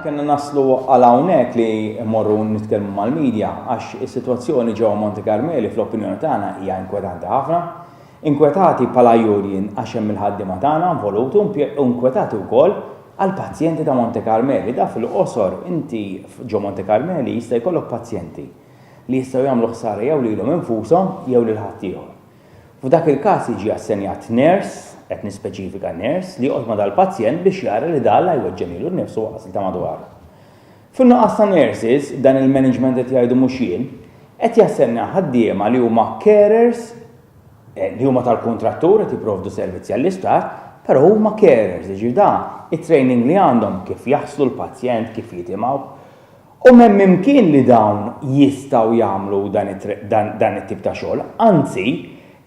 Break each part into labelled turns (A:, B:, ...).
A: Kenna naslu għal hawnhekk li morru nitkellmu mal-medja għax is-sitwazzjoni ġewwa Monte Carmeli fl-opinjoni tagħna hija inkwetanti ħafna. Inkwetati bħala Union għax hemm il-ħaddiema tagħna involuti u inkwetati wkoll għall-pazjenti ta' Monte Carmeli. Da fil-qosor inti ġo Monte Carmeli jista' jkollok pazjenti li jistgħu jagħmlu ħsara jew lilhom infushom jew lil ħaddieħor. F'dak il-każ jiġi assenjat ners, qed nispeċifika ners, li joqgħod ma' dal-pazjent biex jara li dan la jweġġen lilu nnifsu u lanqas lil ta' madwaru. Fin-nuqqas ta' nurses, dan il-management qed jgħidu mhux jien, qed jassenja ħaddiema li huma carers li huma tal-kuntrattur qed jipprovdu servizzi għall-isptar, però huma carers, jiġifieri dan it-training li għandhom kif jaħslu l-pazjent, kif jitimgħuh, U m'hemm imkien li dawn jistgħu jagħmlu dan it-tip ta' xogħol. Anzi,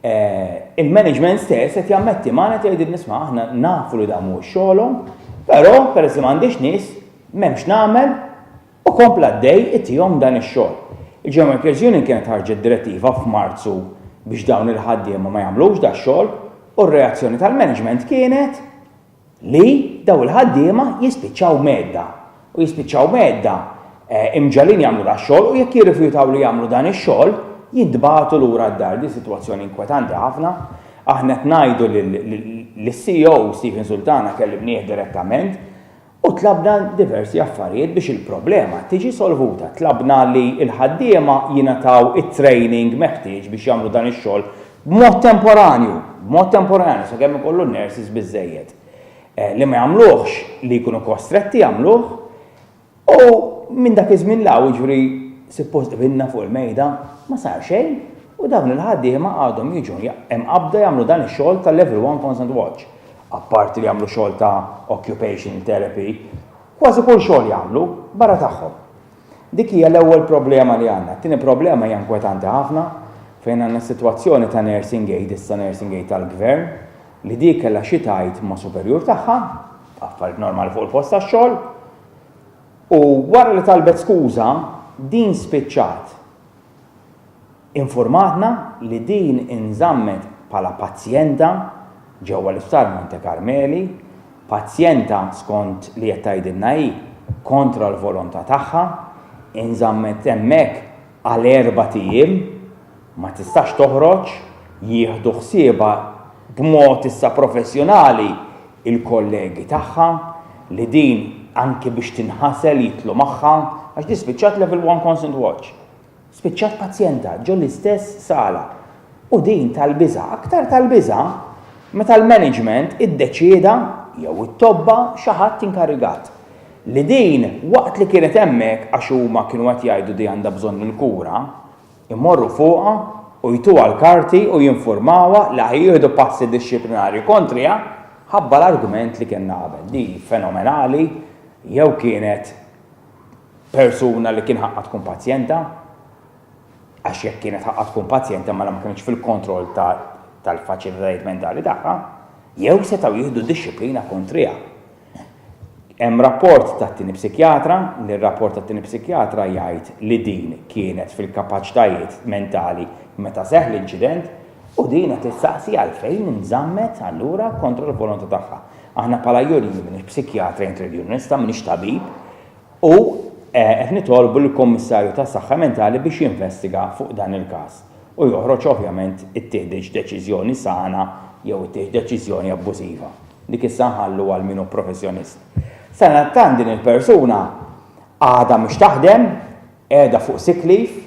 A: il-management stess qed jammetti magħna qed jgħidilna isma' aħna nafu li dan mhuwiex xogħolhom, però peress li m'għandix nies, m'hemm x'nagħmel u kompla għaddej itihom dan ix-xogħol. Il-German Workers Union kienet ħarġet direttiva f'Marzu biex dawn il-ħaddiema ma jagħmlux dax-xogħol u r-reazzjoni tal-management kienet, li dawn il-ħaddiema jispiċċaw mgħedda, u jispiċċaw mgħedda, imġagħlin jagħmlu dax-xogħol u jekk jirrifjutaw li jagħmlu dan ix-xogħol, jintbagħtu lura d-dar. Din sitwazzjoni inkwetanti ħafna. Aħna qed ngħidu lis-CEO Stephen Sultana kellimnieh direttament u tlabna diversi affarijiet biex il-problema tiġi solvuta. Tlabna li l-ħaddiema jingħataw it-training meħtieġ biex jagħmlu dan ix-xogħol B'mod temporanju, b'mod temporanju, sakemm ikollu nurses biżżejjed li ma jagħmluhx, li jkunu kostretti jagħmluh, u minn dak iż-żmien 'l hawn, jiġifieri suppost qbilna fuq il-mejda, ma sar xejn u dawn il-ħaddiema għadhom jiġu mqabbda jagħmlu dan ix-xogħol ta' Level One Consent Watch, apparti li jagħmlu xogħol ta' occupational therapy, kważi kull xogħol jagħmlu, barra tagħhom. Dik hija l-ewwel problema li għandna. It-tieni problema hija inkwetanti ħafna fejn għandna sitwazzjoni ta' nursing aid, issa nursing aid tal-gvern, li dik kellha xi tgħid ma' superjur tagħha, affarijiet normali fuq il-post tax-xogħol, u wara li talbet skuża, din spiċċat Infurmatna li din inżammet bħala pazjenta ġewwa l-Isptar Monte Carmeli, pazjenta skont li qed tgħidilna hi kontra l-volontà tagħha, inżammet hemmhekk għal erbat ijiem, ma tistax toħroġ, jieħdu ħsiebha b'mod issa professjonali l-kollegi tagħha li din anki biex tinħasel jidħlu magħha għax din spiċċat Level One Constant Watch. Spiċċat pazjenta ġo l-istess sala u din tal-biża' aktar tal-biża' meta l-management iddeċieda, jew it-tobba, xi ħadd inkarigat, li din waqt li kienet hemmhekk għax huma kienu qed jgħidu di għandha bżonn il-kura, imorru fuqha u jtuha l-karti u jinfurmawha li ħajjieħdu passi dixxiplinarji kontriha ħabba l-argument li kellna qabel. Di fenomenali jew kienet persuna li kien ħaqqa tkun pazjenta, għax jekk kienet ħaqqa tkun pazjenta mela ma kienx fil-kontroll tal-faċilitajiet mentali tagħha, jew setgħu jieħdu dixxiplina kontriha. Hemm rapport tat-tieni psikjatra li r-rapport tat-tieni psikjatra jgħid li din kienet fil-kapaċitajiet mentali meta seħħ l-inċident U din qed issaqsi għalfejn inżammet allura kontra l-volontà tagħha. Aħna bħala juri jien m'iniex psikjatra jew trade unionista, m'iniex tabib, u eh, qed nitolbu lill-Kummissarju tas-Saħħa Mentali biex jinvestiga fuq dan il-każ u joħroġ ovvjament ittieħditx deċiżjoni sana jew ittieħx deċiżjoni abbużiva. Dik issa nħallu għal min hu professjonist. Sadattant din il-persuna għadha mhux taħdem, Qiegħda fuq sick leave,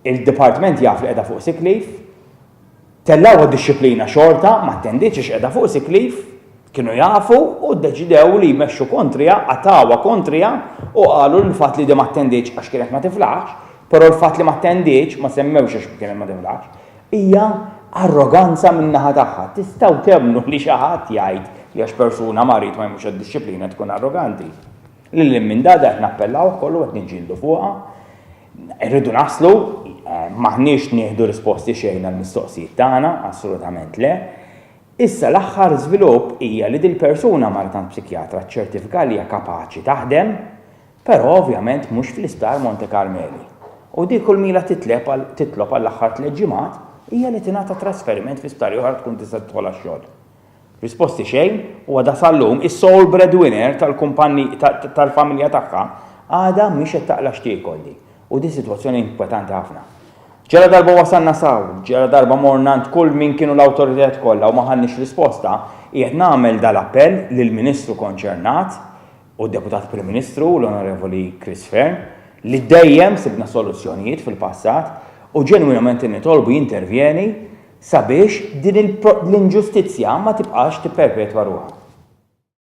A: il-dipartment jaf li qiegħda fuq sick leave, tellgħuha d-dixxiplina xorta, ma attenditx għax qiegħda fuq sick leave, kienu jafu u ddeċidew li jmexxu kontriha, qatgħuha kontriha u qalu li l-fatt li di ma attenditx għax kienet ma tiflaħx, però l-fatt li ma attenditx, ma semmewx għax kienet ma tiflaħx, hija arroganza min-naħa tagħha. Tistgħu temmnu li xi ħadd jgħid li għax persuna marid ma jmurx għad-dixxiplina tkun arroganti? Lil hinn minn dada qed nappellaw ukoll u qed niġġieldu fuqha. Irridu naslu, m'aħniex nieħdu risposti xejn għall-mistoqsijiet tagħna, assolutament le. Issa l-aħħar żvilupp hija li dil-persuna marret għand psikjatra ċċertifika li hija kapaċi taħdem, però ovvjament mhux fl-Isptar Monte Carmeli. U dik kull m'ilha titlob għall-aħħar tliet ġimgħat hija li tingħata trasferiment fi sptar ieħor tkun tista' tidħol għax-xogħol. Risposti xejn u għadha sal-lum is-sole breadwinner tal-kumpanni tal-familja tagħha għadha mhix qed taqla' x'tiekol di u di sitwazzjoni inkwetanti ħafna. Ġala darba wasalna s'hawn, ġala darba morna għand kull min kienu l-awtoritajiet kollha u ma ħadniex risposta, qiegħed nagħmel dal-appell lill-Ministru konċernat u d-Deputat Prim Ministru, l-Onorevoli Chris Fearne, li dejjem sibna soluzzjonijiet fil-passat u ġenwinament nitolbu jintervjeni sabiex din l-inġustizzja ma tibqax tipperpetwa ruħha.